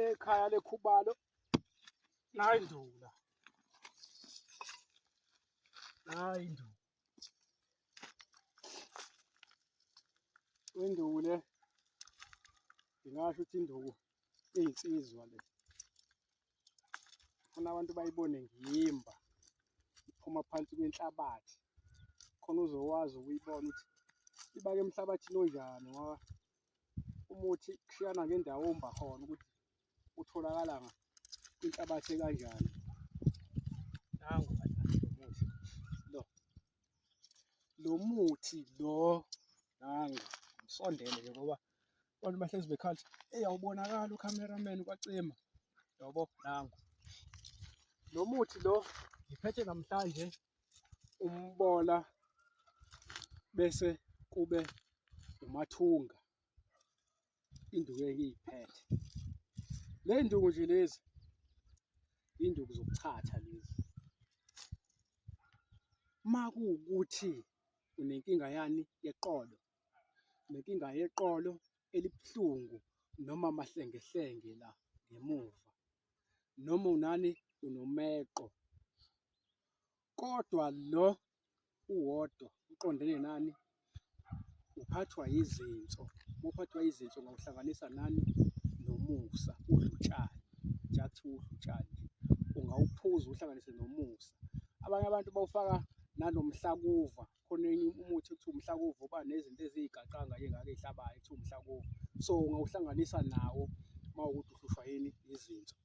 ekhaya lekhubalo nayi ndula nayi ndula induku le ngingasho ukuthi induku iyinsizwa le khona abantu bayibone ngiyimba iphuma phansi kwenhlabathi khona uzokwazi ukuyibona ukuthi ibake emhlabathini onjani ngoba umuthi kushiyana ngendawo omba khona ukuthi utholakala kwinhlabathi ekanjani nangu umuthi lo lo muthi lo nangu ngisondele nje ngoba abantu bahlezi bekhathi eyi awubonakali ucameraman kwacima yobo nangu lo muthi lo ngiphethe namhlanje umbola bese kube umathunga induku engiyiphethe le nduku nje lezi induku zokuchatha lezi uma kuwukuthi unenkinga yani yeqolo nenkinga yeqolo elibuhlungu noma amahlengehlenge la ngemuva noma unani unomeqo kodwa lo uwodwa uqondene nani uphathwa yizinso uphathwa yizinso ngawuhlanganisa nani nomusa udlutshani njathi udlutshani ungawuphuza uhlanganise nomusa abanye abantu bawufaka nanomhlakuva khona enye umuthi ekuthiwa umhlakuvu uba nezinto eziyigaxanga nje ngake ihlabayo ekuthiwa umhlakuvu so ungawuhlanganisa nawo uma ukuthi uhlushwa yini izinso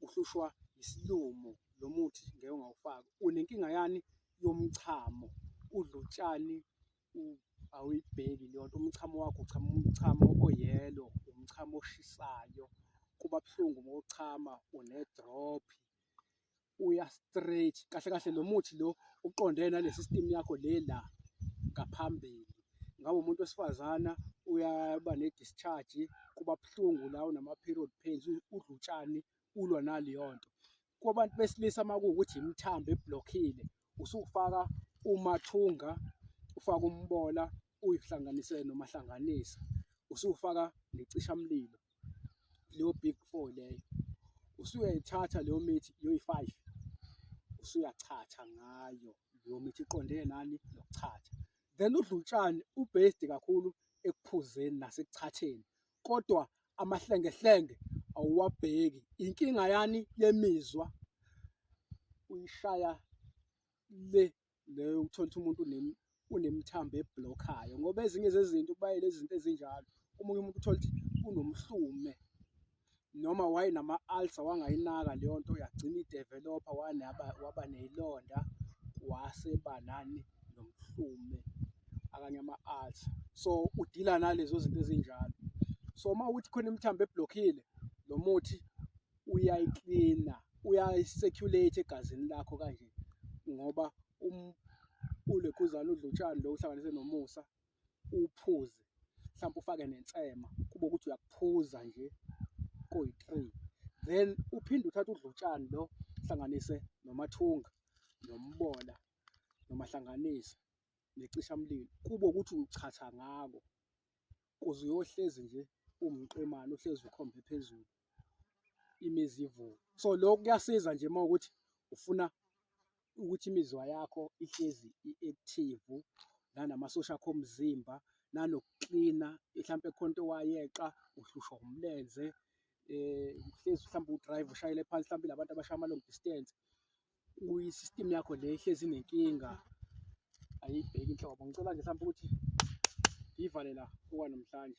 uhlushwa isilumo lo muthi ngeke ungawufaki unenkinga yani yomchamo udla utshani awuyibheki leyo nto umchamo wakho uchama umchamo oyelo umchamo oshisayo kuba buhlungu uma uchama unedrophi uya straight kahle kahle lo muthi lo uqondene nale system yakho le la ngaphambili ngabe umuntu wesifazana uyaba ne-discharge kuba buhlungu la unama-period pains udla utshani ulwa naleyo nto kwabantu besilisa uma kuwukuthi imithambo ebhlokhile usufaka umathunga ufaka umbola uyihlanganise nomahlanganisa usufaka necishamlilo leyo big four leyo usuyayithatha leyo mithi yoyi-five usuyachatha ngayo leyo mithi iqondene nani nokuchatha then udlutshane ubased kakhulu ekuphuzeni nasekuchatheni kodwa amahlengehlenge awuwabheki inkinga yani yemizwa uyishaya le leyo uthola ukuthi umuntu unemthambo eblokhayo ngoba ezinye zezinto kubayele izinto ezinjalo omunye umuntu uthola ukuthi unomhlume noma wayenama-ulcer wangayinaka leyo nto yagcina idevelopha waba neyilonda waseba nani nomhlume akanye ama-ulcer so udila nalezo zinto ezinjalo so uma ukuthi khona imithambo eblokhile lo muthi uyayiklina uyayi-circulate egazini lakho kanje ngoba um ulekhuzana udla utshani lo uhlanganise nomusa uwuphuze mhlawumbe ufake nensema kube ukuthi uyakuphuza nje koyi-three then uphinde uthathe udlutshani lo hlanganise nomathunga nombola nomahlanganise necishamlilo kube ukuthi uchatha ngako kuze uyohlezi nje umqemane uhlezi ukhombe phezulu imizi ivuke. So lokho kuyasiza nje uma ukuthi ufuna ukuthi imizwa yakho ihlezi i-active nanamasosha akho omzimba nanokuklina mhlawumpe khona into owayeqa uhlushwa umlenze eh uhlezi mhlawumbe udrive ushayele phansi mhlawumbe labantu abashaya ama long distance uyi-system yakho le ihlezi inenkinga ayibheki inhlobo ngicela nje mhlawumbe ukuthi ngiyivale la okwanamhlanje